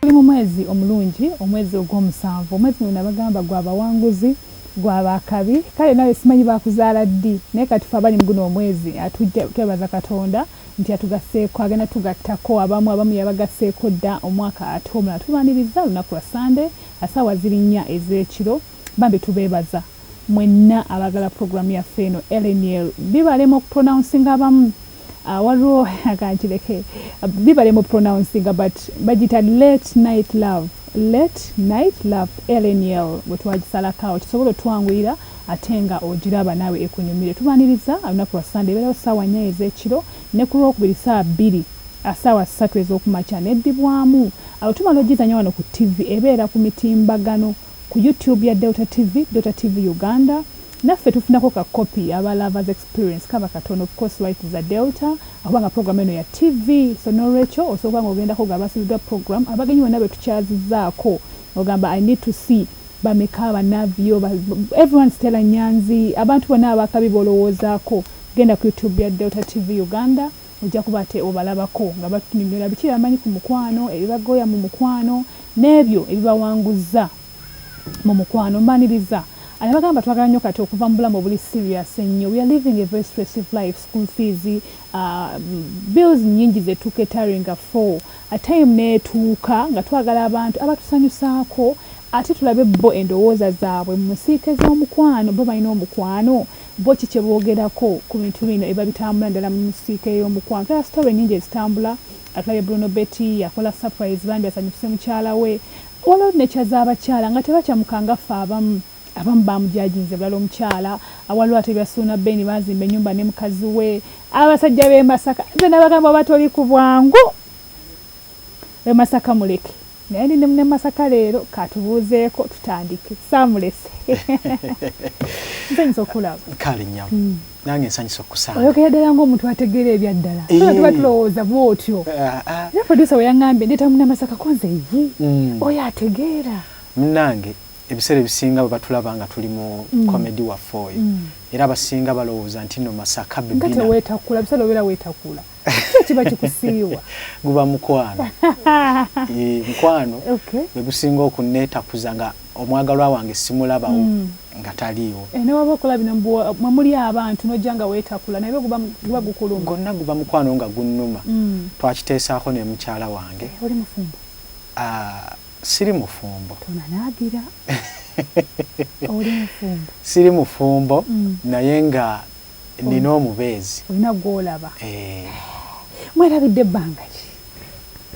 Tuli mu mwezi omulungi, omwezi ogw'omusanvu. Omwezi guno nabagamba gwa bawanguzi, gwa ba kabi. Kale nawe simanyi baakuzaala ddi, naye kati ffe abali mu guno omwezi atujja, twebaza Katonda nti yatugasseeko, agenda tugattako abamu. Abamu yabagasseeko dda omwaka ate omulala tulwanirizza lunaku lwa Ssande a ssaawa ziri nnya ez'ekiro. Bambi tubeebaza mwenna abaagala pulogulaamu yaffe eno. Eleniel bibalema okupronouncinga abamu. Ah, waliwo akankireke bibale mu pronouncinga but bagita late night love late night love lnl bwetwagisalakaawo kisobola otwanguyira ate nga ogiraba naawe ekunyumire tubaniriza olunaku lwa sande ebeerawo saawa nya ezekiro ne ku lwokubiri saa bbiri ah, saawa ssatu ezokumakya neddibwamu awo tumala ogizanya wano ku tv ebeera ku mitimbagano ku youtube ya delta tv delta tv uganda naffe tufunako ka kopi aba lovers experience kaba katono of course life is a delta akuba nga program eno ya TV so nolwekyo osobola nga ogendako nga basubiddwa program abagenyi bonna betukyazizaako ogamba I need to see bameka banavio everyone Stella Nyanzi abantu bonna abakabi bolowoozaako genda ku YouTube ya Delta TV Uganda ojja kuba ate obalabako nga batunyonyola biki bamanyi ku mukwano ebibagoya mu mukwano n'ebyo ebibawanguzza mu mukwano mbaniriza I bagamba twagala nyo kati okuva mu bulamu obuli serious ennyo we are living a very stressive life school fees uh, bills nyingi zetuketaringa for a time netuuka nga twagala abantu abatusanyusaako ate tulabe bo endowooza zaabwe mu nsiike z'omukwano bo balina omukwano bo ki kyeboogerako ku bintu bino eba bitambula ddala mu nsiike y'omukwano tala sitore nyingi ezitambula atulabe bruno betty yakola surprise bambi asanyukise mukyala we Waliwo ne kya z'abakyala nga tebakyamuka nga ffe abamu. Abamu baamujaajinze bulala omukyala. Waliwo ate ebya Suuna Ben baazimba ennyumba ne mukazi we. Abasajja b'e Masaka nze nabagamba oba toli ku bwangu e Masaka muleke. Naye ndi ne munne Masaka leero k'atubuuzeeko tutandike. Saamulese. Nsanyuse okukulaba. Kale nnyabo. nange nsanyusa okusanga oyogera ddala ng'omuntu ategeera ebyaddala eh. aa tuba tulowooza bwotyo ah, ah. era producer weyangambye ndeeta munamasaka konze yi hmm. oyo ategeera munange ebiseera ebisinga bwe batulaba nga tuli mu hmm. komedi waffe oyo hmm. era abasinga balowooza nti no masaka bebina nga teweetakula biseera obeera weetakula kyo kiba kikusiiwa guba mukwano mukwano gwegusinga okunetakuza nga omwagalwa wange simulabawo mm. nga taliiwo eh, newaba okola bino mwemuli abantu nojja nga wetakula naye guba gukuluma gonna guba mukwano nga gunnuma mm. twakiteesaako ne mukyala wange eh, oli mufumbo ah, siri mufumbo tonanagira oli mufumbo siri mufumbo mm. naye nga nina omubeezi olina gwolaba eh. mwerabidde ebbanga ki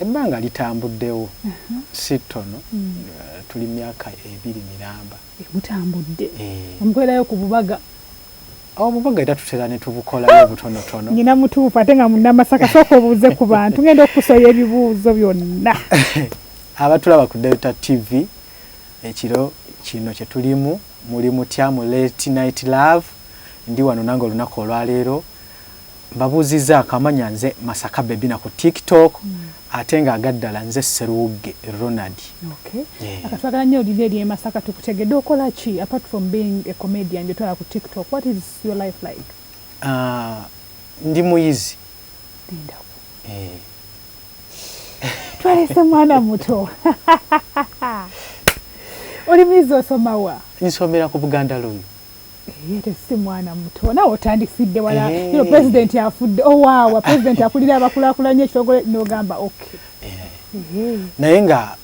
ebbanga litambuddewo uh-huh. si ttono hmm. eh, tuli myaka ebiri miramba eh, mutambudde eh. omukwerayo ku bubaga obubaga era tutera ne tubukolayo obutonotono nyina mutuufu ate nga munamasaka sooka obuuze ku bantu ngenda okukusoya ebibuuzo byonna abatulaba ku delta tv ekiro kino kyetulimu Muli mutya mu late night love ndi wano nange olunaku olwaleero mbabuuzizaako amanya nze masaka bebi na ku tiktok mm. ate nga agaddala nze seruwugge ronald okay. yeah. akatwagala nnyo olina eri emasaka tukutegedde okola ki apart from being a comedian gyotwala ku tiktok what is your life like uh, ndi muyizi lindako eh. twalese mwana muto oli muyizi osoma wa nsomera ku buganda loyo yete si mwana muto nawe otandisidde wala ino pulezidenti afudde owaawa oh, pulezidenti akulira abakulakulanya ekitogole nogamba ok naye nga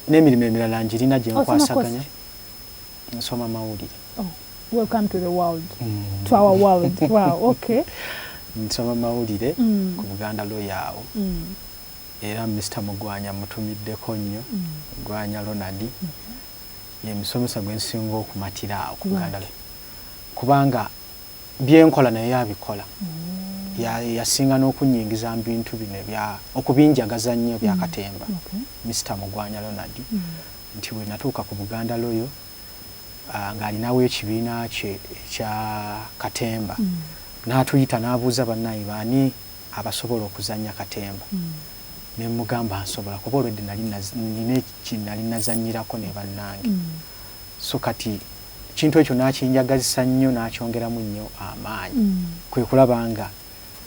n'emirimu emirala ngirina gyenkwasaganya Nsoma mawulire. Oh, welcome to the world. Mm. To our world. wow, okay. Nsoma mawulire mm. ku Buganda Lawyer awo. Mm. Era Mr. Mugwanya mutumiddeko nnyo. Mm. Mugwanya Ronald. Mm -hmm. Ye musomesa gwe nsinga okumatira awo ku Buganda Lawyer. Kubanga byenkola naye abikola. Mm. Ya yasinga n'okunyingiza mu bintu bino ebya okubinjagaza nnyo bya mm. katemba. Mm. Okay. Mr. Mugwanya Ronald. Mm. nti bwe natuuka ku Buganda Loyo ng'alinawo ekibiina kye ekya katemba n'atuyita n'abuuza bannange baani abasobola okuzannya katemba ne mmugamba nsobola kuba olwedda nali nnina kye nnali nazannyirako ne bannange so kati ekintu ekyo n'akinjagazisa nnyo n'akyongeramu nnyo amaanyi kwe kulaba nga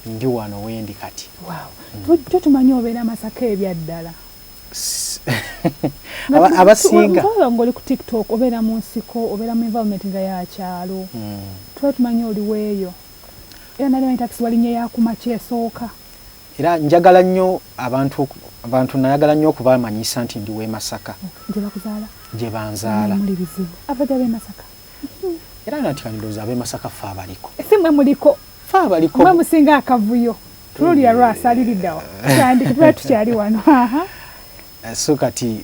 ndi wano wendi kati. Wow. Tujjo tumanyi obeera Masaka ebyaddala. abasinga nga oli ku tiktok obeera mu nsiko obeera mu environment nga yakyalo hmm. tuba tumanyi oliweeyo era nali manyi takisi walinye yakuma kyesooka era njagala nnyo abantu abantu nayagala nnyo okubamanyisa nti ndi wemasaka gyebakuzaala gyebanzaala era nanti kandoza abe masaka fa abaliko si mwe muliko fa abaliko mwe musinga akavuyo tulolira lwasa aliridawa kyandi kuba tukyali wano eh, so kati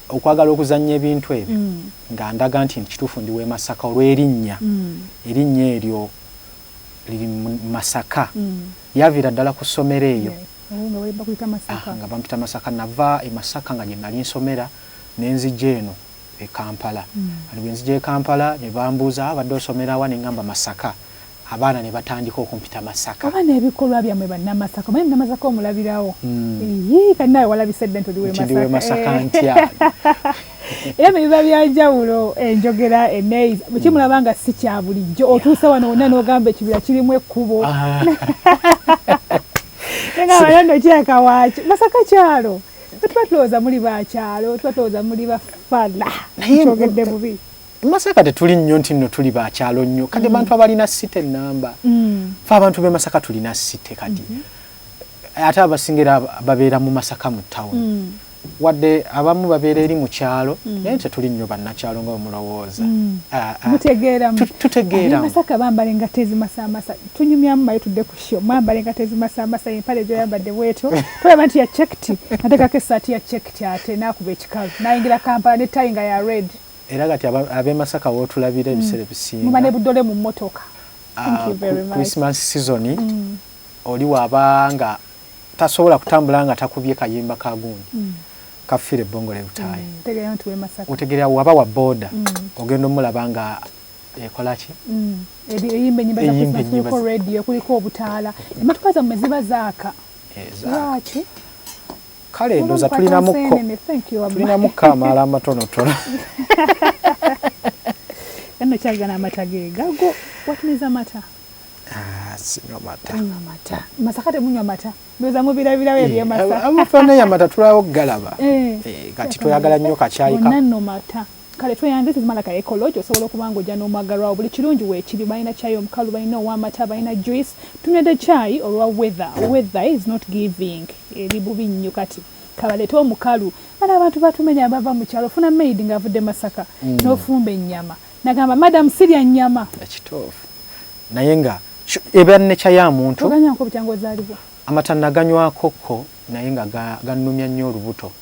okwagala okuzannya ebintu ebyo mm. nga ndaga nti kituufu ndi w'e masaka olw'erinnya mm. erinnya eryo liri masaka mm. yaviira ddala ku ssomero eyo oh, ah, nga bampita masaka nava e masaka nga gye nali nsomera ne nzija eno e Kampala kati bwe nzija e Kampala ne bambuuza abadde osomera wa ne ngamba Masaka abaana ne batandika okumpita Masaka. Oba n'ebikolwa byammwe Bannamasaka omanyi Munnamasaka omulabirawo yii kati naawe walabise dda nti oli w'e Masaka Masaka ntya era ne biba bya njawulo enjogera enneeyisa bwe kimulaba nga si kya bulijjo otuuse wano wonna n'ogamba ekibira kirimu ekkubo nga wano nno kirabika waaki Masaka kyalo. tuba tulowooza muli bakyalo tuba tulowooza muli bafala kyogedde bubi masaka tetuli nnyo nti nno tuli bakyalo nnyo kati mm. bantu abalina site enamba mm. fe abantu be masaka tulina site kati mm -hmm. ate abasingira babeera mu masaka mu tawuni mm. wadde abamu babeera eri mu kyalo mm. naye tetuli nnyo bannakyalo nga omulowooza mm. ah, ah. tutegeeramasaka bambale nga tezimasamasa tunyumyamu maye tudde ku Kyo mwambala engato ezimasamasa empale gyoyambadde bwetyo tolaba nti ya cekiti natekako esaati ya cekiti ate nakuba ekikalu nayingira kampala ne tayi nga ya red era kati abemasaka wotulabira mm. ebiseera ebisinga muba nebudole mu motoka ah, christmas season mm. oli waba nga tasobola kutambula nga takubye kayimba kagundi mm. kafire bongole lutayi otegerera waba wa boda ogenda omulaba nga ekolaki eyimba enyimba za Christmas kuliko radio kuliko obutaala emmotoka zammwe ziba zaaka eh, lwaki kale ndoza tulinamu kamaala amatonotono eno kyagana amata ge gago what means amata ah, sinywa mata anywa mata masaka temunywa mata ndoza mubirabirawo eh, ebyemasaka amafana yamata tulawo galaba eh, kati toyagala nnyo kakyayi ka mata Kale tweyanze this is more like a eco lodge osobola okuba nga ojja n'omwagalwawo buli kirungi weekiri balina chai omukalu balina owamata balina juice tunywedde chai olwa weather weather is not giving eri bubi nnyo kati kabalete omukalu bana abantu batumenya bava mu kyalo ofuna maid ng'avudde masaka mm. n'ofumba ennyama nagamba madam sirya nnyama ekituufu naye nga eba nekya ya muntu oganyanko bukyangu ozaalibwa amata naganywakokko naye nga ganumya nnyo olubuto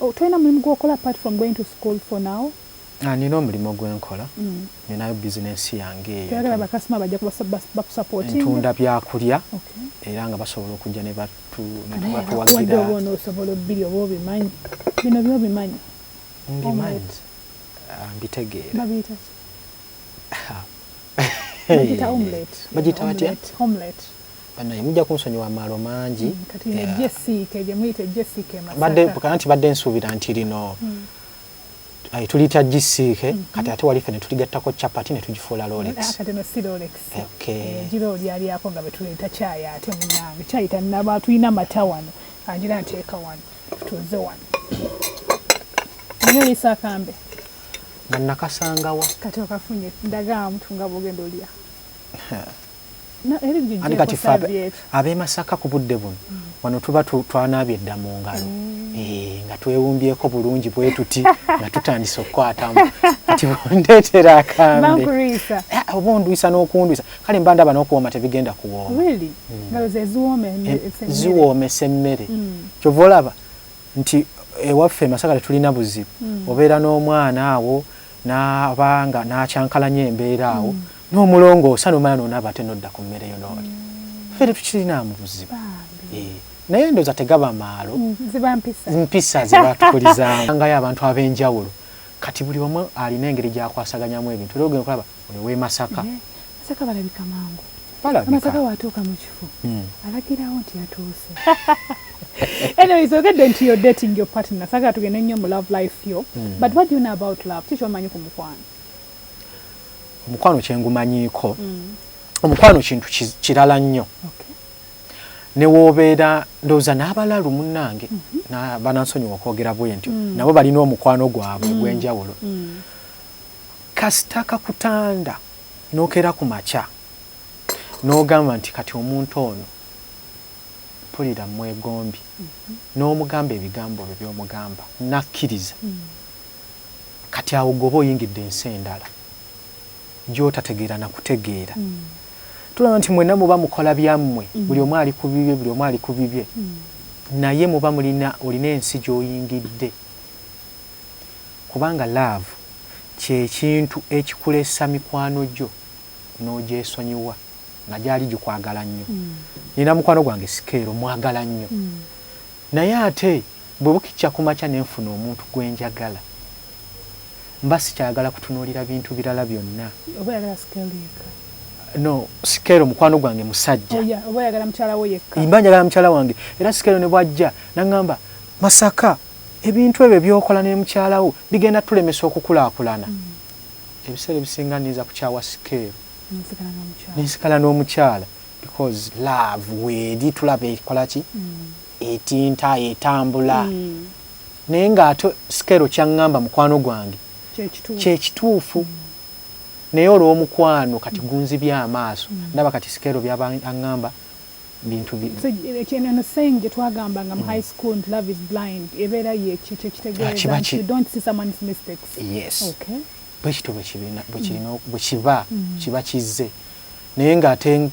Oh tolina mulimu gwokola apart from going to school for now? Ah nina omulimu gwenkola ninayo business yange eyo toyagala ba customer bajja bakusupportinga? Ntunda byakulya era nga basobola okujja ne batu nebatuwagira oba onosobola obbiri oba obimanyi bino byobimanyi? Mbimanyi ah, mbitegeera babiyita ki? Ah. bagita omelette bagita batya? omelette banaye mujja kunsonyiwa amaalo mangi kanti badde nsuubira nti lino hmm. tuliyita gisiike hmm. kati ate wali fene tuligattako capati ne tugifuula lolex nakasangawa kati okafunye ndagaamutu nga bogenda olya anti kati fe abemasaka ku budde buno mm. wano tuba twanaabye dda mu ngalo mm. eh, nga twewumbyeko bulungi bwe tuti nga tutandise okukwatamu kati ndeetera akambeobundwisa ah, n'okundwisa kale mba ndaba n'okuwooma tebigenda kuwooma mm. eh, ziwoomesa emmere kyova olaba nti ewaffe eh, masaka tetulina buzibu obeera n'omwana awo n'abanga n'akyankalanya embeera awo N'omulongo osana omala nonaba ate nodda ku mmere yo nolya. Ffe tetukirinaamu buzibu. Eeh. Naye ndoza tegaba maalo. Mm, ziba mpisa. Mpisa zebatukulizaamu. Sangayo abantu abenjawulo. Kati buli omu alina engeri gyakwasaganyamu ebintu. Era ogenda okulaba oyo w'e Masaka. Eeh. Masaka balabika mangu. Balabika. Amasaka watuuka mu kifo. Mm. Alagirawo nti yatuuse. Anyways, ogedde nti you're dating your partner. Sagala tugende nnyo mu love life yo. Mm. But what do you know about love? Kiki omanyi ku mukwano? omukwano kyengumanyiiko omukwano kintu kirala nnyo newobeera ndowooza n'abalalu munnange mhm. banansonyiwa okwogera bwentyo mm. nabo balina omukwano gwabwe mm. ogw'enjawulo mm. kasita kakutanda nokera ku makya n'ogamba nti kati omuntu ono mpulira mwegombi mhm. n'omugamba ebigambo byo by'omugamba nakkiriza Kati awo gwe oba oyingidde ensi endala gyotategeera na kutegeera. Tulaba nti mwenna muba mukola byammwe, buli omu ali ku bibye, buli omu ali ku bibye, naye muba mulina, olina ensi gy'oyingidde. Kubanga laavu kye kintu ekikulesa mikwano gyo n'ogyesonyiwa nga gyali gikwagala nnyo. Nnina mukwano gwange Sikeero, mmwagala nnyo. Naye ate bwe bukicca ku makya ne nfuna omuntu gwe njagala, mba sikyayagala kutunuulira bintu birala byonna. Oba oyagala sikeero yekka? No, sikeero mukwano gwange musajja. Oya, oba oyagala mukyala wo yekka? Mba njagala mukyala wange. Era sikeero ne bw'ajja n'aŋŋamba, Masaka, ebintu ebyo by'okola ne mukyala wo bigenda tulemesa okukulaakulana. Ebiseera ebisinga nninza kukyawa sikeero ne nsigala n'omukyala. because love weeri tulaba ekolaki etinta etambula mm. naye nga ate sikero kyaŋŋamba mukwano gwange kyekituufu mm. naye olw'omukwano kati mm. gunzibye amaaso mm. ndaba kati sikero byaba aŋŋamba bintu bino saying gye twagambanga mu mm. high school nti love is blind ebeera yeki kyekitegeeza ah, don't see someone's mistakes yes okay bwekityo bwekirina bwekiba kiba kizze naye nga ate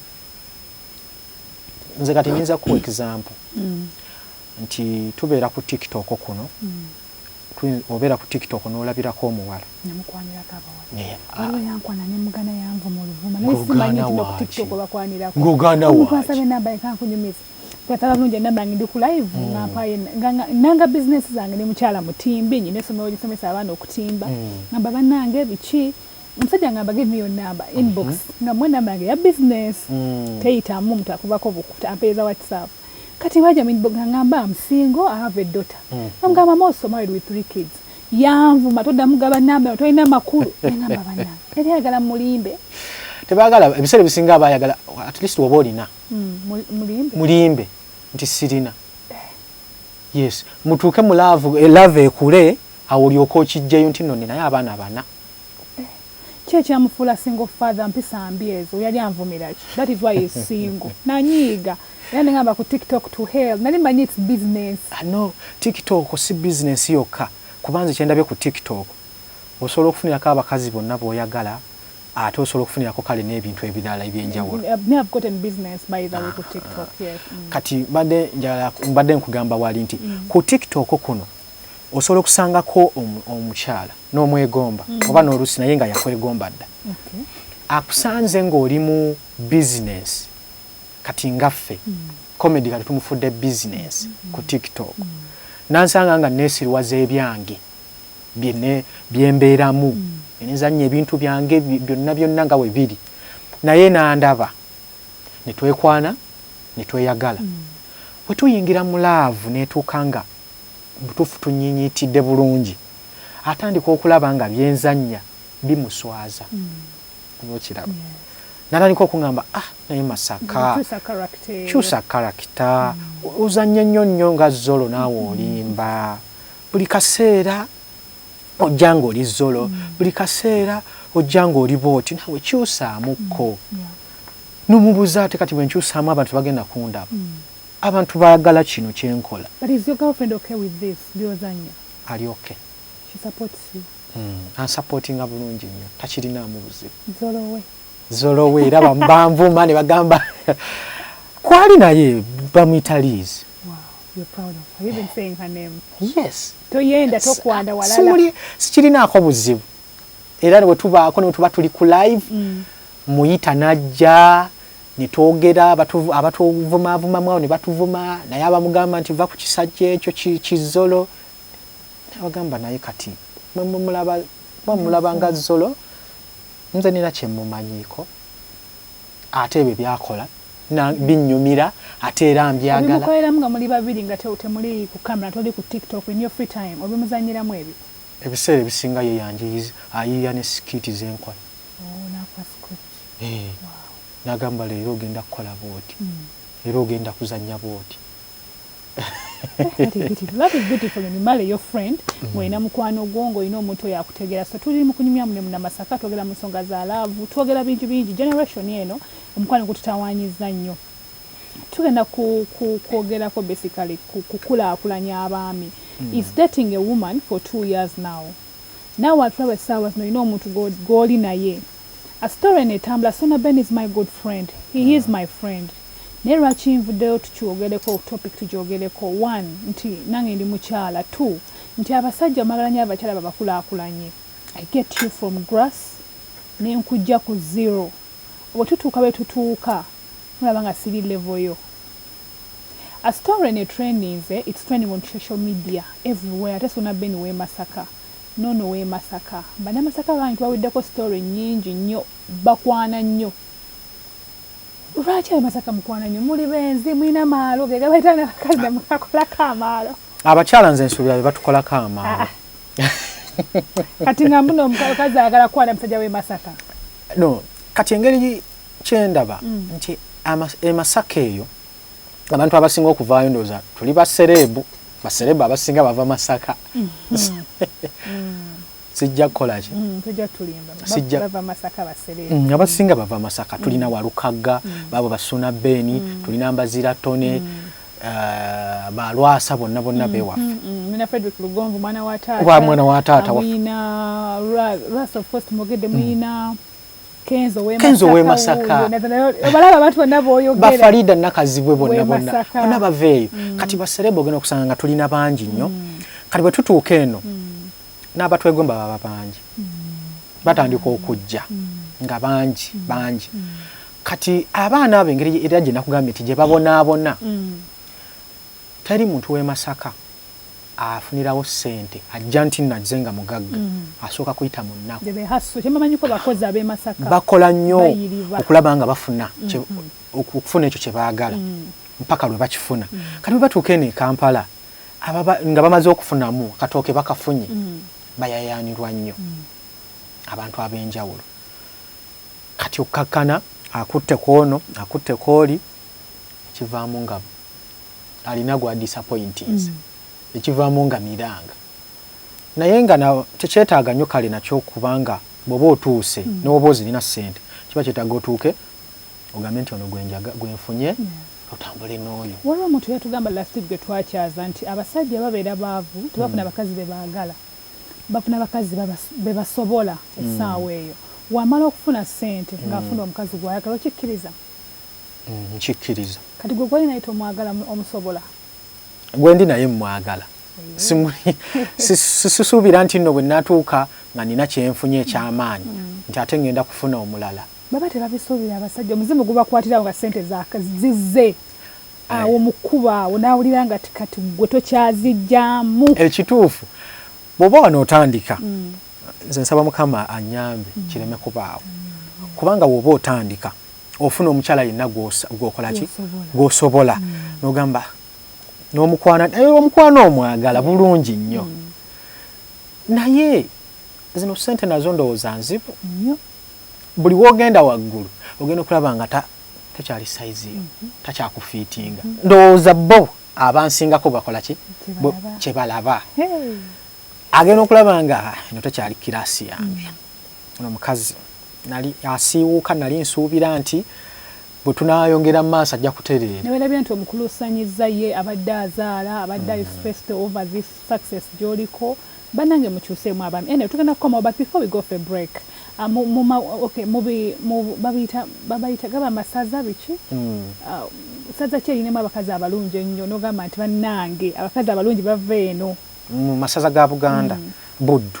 nze kati nyinza kuwa example mm. nti tubeera ku tiktok kuno mm. obeera ku tiktok n'olabirako omuwala ng'ogaana waaki twatala bulungi enamba yange ndi ku live mm. nga mpaye nanga bizinesi zange ne mukyala mutimbi nyina esomero lisomesa abaana okutimba mm. ngamba banange biki omusajja ngamba give me your number inbox mm -hmm. nga mwe number yange ya business mm. teyitamu omuntu akubako bukuta ampeereza whatsapp kati waja minbox ngamba am single i have a daughter mm -hmm. amgamba i'm also married with three kids yanvuma toddamu gaba namba tolina makulu nengamba banange yali ayagala mulimbe tebagala ebiseera ebisinga aba ayagala at least oba olina mm, mulimbe mulimbe nti sirina eh. yes mutuuke mu laavu eh, laavu ekule awo olyoka okijjayo nti nno ninayo abaana bana Ki ekyamufuula single father mpisa mbi ezo yali anvumira ki that is why he is single nanyiiga era nengamba ku tiktok to hell nali manyi it's business ah, no tiktok si business yokka kuba nze kyendabye ku tiktok osobola okufunirako abakazi bonna boyagala ate osobola okufunirako kale n'ebintu ebirala ebyenjawulo eh, ah. mm. kati mbadde njala mbadde nkugamba wali nti mm. ku tiktok kuno osobola okusangako omukyala n'omwegomba mm. oba n'oluusi naye nga yakwegomba dda akusanze ng'oli mu bizinensi kati ngaffe komedi mm. kati tumufudde bizinensi mm. ku tiktok nansanga nga neesiriwaza ebyange byembeeramu nenzannya ebintu byange byonna byonna nga we biri naye nandaba ne twekwana ne tweyagala bwe tuyingira mu laavu neetuuka nga Mubutuufu tunyinyiitidde bulungi. Atandika okulaba nga byenzannya bimuswaza. Oba okiraba. Natandika okungamba ah naye Masaka. Kyusa karakita. Ozannya nnyo nnyo nga Zolo naawe olimba. Buli kaseera ojja nga oli Zolo. Buli kaseera ojja nga oli bwoti. Naawe kyusaamu ko. Nomubuza ate kati bwenkyusaamu abantu tebagenda kundaba. Abantu bagala kino kyenkola. But is your girlfriend okay with this byoza nyo. Ali okay. She supports you. Mm. Ansupportinga bulungi nyo. Takirinaamu buzibu. Zolowe. Zolowe era bambanvuma ne bagamba kwali naye bamuyita Liz. Wow. You're proud of her. You've been saying her name. Yes. Toyenda tokwanda walala. Simuli sikirinaako buzibu. Era ne bwe tubaako ne bwe tuba tuli ku live mm. muyita n'ajja. ne twogera abatuvumaavumamu awo ne batuvuma naye abamugamba nti va ku kisajja ekyo kizzolo abagamba naye kati mwemulaba nga zzolo nze nina kyemumanyiiko ate ebyo byakola binyumira ate era mbyagalamukoleramu nga muli babiri nga temuli ku kamera toli ku tiktok in your free time obimuzanyiramu ebyo ebiseera ebisinga ye yanjiyiza ayiiya ne sikiiti zenkola eh, nagamba leero ogenda kukola bwoti hmm. leero ogenda kuzanya bwoti mwena hmm. mukwano gwo ngaolina omuntu oyo akutegera so tuli mukunyumya mune munamasaka twogera mu nsonga za laavu twogera bingi bingi generation eno omukwano gututawanyiza nnyo tugenda kwogerako basically kukulakulanya abaami hmm. is dating a woman for two years now Naawe atulaba essaawa zino olina omuntu gwoli naye a story eno etambula Sona Ben is my good friend he he is my friend naye lwaki nvuddeyo tukyogereko topic tugyogereko one nti nange ndi mukyala two nti abasajja mwagala nyo abakyala babakulaakulanye I get you from grass ne nkujja ku zero bwe tutuuka bwe tutuuka mulaba nga siri level yo A story eno etrendinze it's trending on social media everywhere ate sona Ben we masaka nono we masaka banamasaka bangi twawedeko story nyingi nnyo bakwana nnyo lwaki abamasaka mukwana nnyo muli benzi mulina maalo gegabaita nabakazi namukakolako amaalo abakyala nze nsuubira be batukolako amaalo ah, ah. kati nga mbuno omukazi ayagala kwana musajja we masaka no kati engeri kyendaba nti emasaka eyo abantu abasinga okuvaayo ndooza tuli basereebu basereebu abasinga bava masaka mm-hmm. sijja kukolaki mm, mm, abasinga bava masaka mm. tulina walukagga baabo basuna beeni tulina mbazira tone eh, balwasa bonna bonna bewaffe mina Frederick Lugonvu mwana wa taata wa mwana wa taata wa muyina Ras of course mugede muyina mm. Kenzo we Kenzo we Masaka obalaba abantu bonna boyogera ba Farida nakazibwe bonna bonna bonna baveeyo mm. kati baserebo gena okusanga nga tulina bangi nnyo mm. kati bwe tutuuka eno mm. n'abatwegomba baba bangi mm. batandika okujja mm. nga bangi mm. bangi mm. kati abaana abo engeri era gye nakugambye nti gye babonaabona mm. teri muntu w'e Masaka afunirawo sente ajja nti nazze nga mugagga mm. asooka kuyita mu nnakubakola nnyo okulaba nga bafuna mm-hmm. okufuna ekyo kye baagala mm. mpaka lwe bakifuna mm. kati bwe batuuka eno e kampala nga bamaze okufunamu katooke bakafunye bayayaanirwa nnyo abantu ab'enjawulo kati okkakkana akutte ku ono akutte ku oli ekivaamu nga Alina gwa disappointinze ekivaamu nga miranga naye nga tekyetaaga nyo kale nakyo kubanga bwoba otuuse mm. newoba ozirina sente kiba kyetaaga otuuke ogambe nti ono gwenjaga gwenfunye otambule n'oyo waliwo omuntu yatugamba last week gwe twakyaza nti abasajja babeera baavu tebafuna mm. bakazi bebaagala bafuna bakazi bebasobola mm. essaawa eyo wamala okufuna sente ngaafuna omukazi gwayagala okikkiriza Nkikkiriza. Kati gwe gwoli naye tomwagala omusobola? Gwendi naye mmwagala. Sisuubira nti nno bwe natuuka nga nina kye nfunye eky'amaanyi mm. nti ate ngenda kufuna omulala. Baba tebabisuubira abasajja, omuzimu gubakwatirawo nga ssente zizze awo eh. mu kkubo awo n'awulira nga kati gwe tokyazijjamu. Ekituufu bw'oba wano otandika mm. nze nsaba Mukama anyambe mm. kireme kubaawo kubanga bw'oba otandika ofuna omukyala yenna gwokolaki gwosobola mm. nogamba nomukwana naye omukwana omwagala bulungi nnyo mm. naye zino sente nazo ndowooza nzibu buli wogenda waggulu ogenda okulaba nga takyali saiziyo mm-hmm. takyakufiitinga mm-hmm. ndowooza bo abansingako bakolaki kyebalaba agenda okulaba nga eno takyali kirasi yange mm. Ono mukazi nali asiiwuuka nali nsuubira nti bwe tunaayongera mu maaso ajja kutereera. Ne weerabira nti omukuluusanyizza ye abadde azaala, abadde ali stressed over this success gy'oliko. Bannange mukyuseemu abaami. Anyway tugenda kukomawo but before we go for a break, mu, mu ma, okay, mu bi, mu, babiyita, babayita, gaba amasaza biki? Ssaza ki erinamu abakazi abalungi ennyo n'ogamba nti bannange abakazi abalungi bava eno? Mu masaza ga Buganda, Buddu.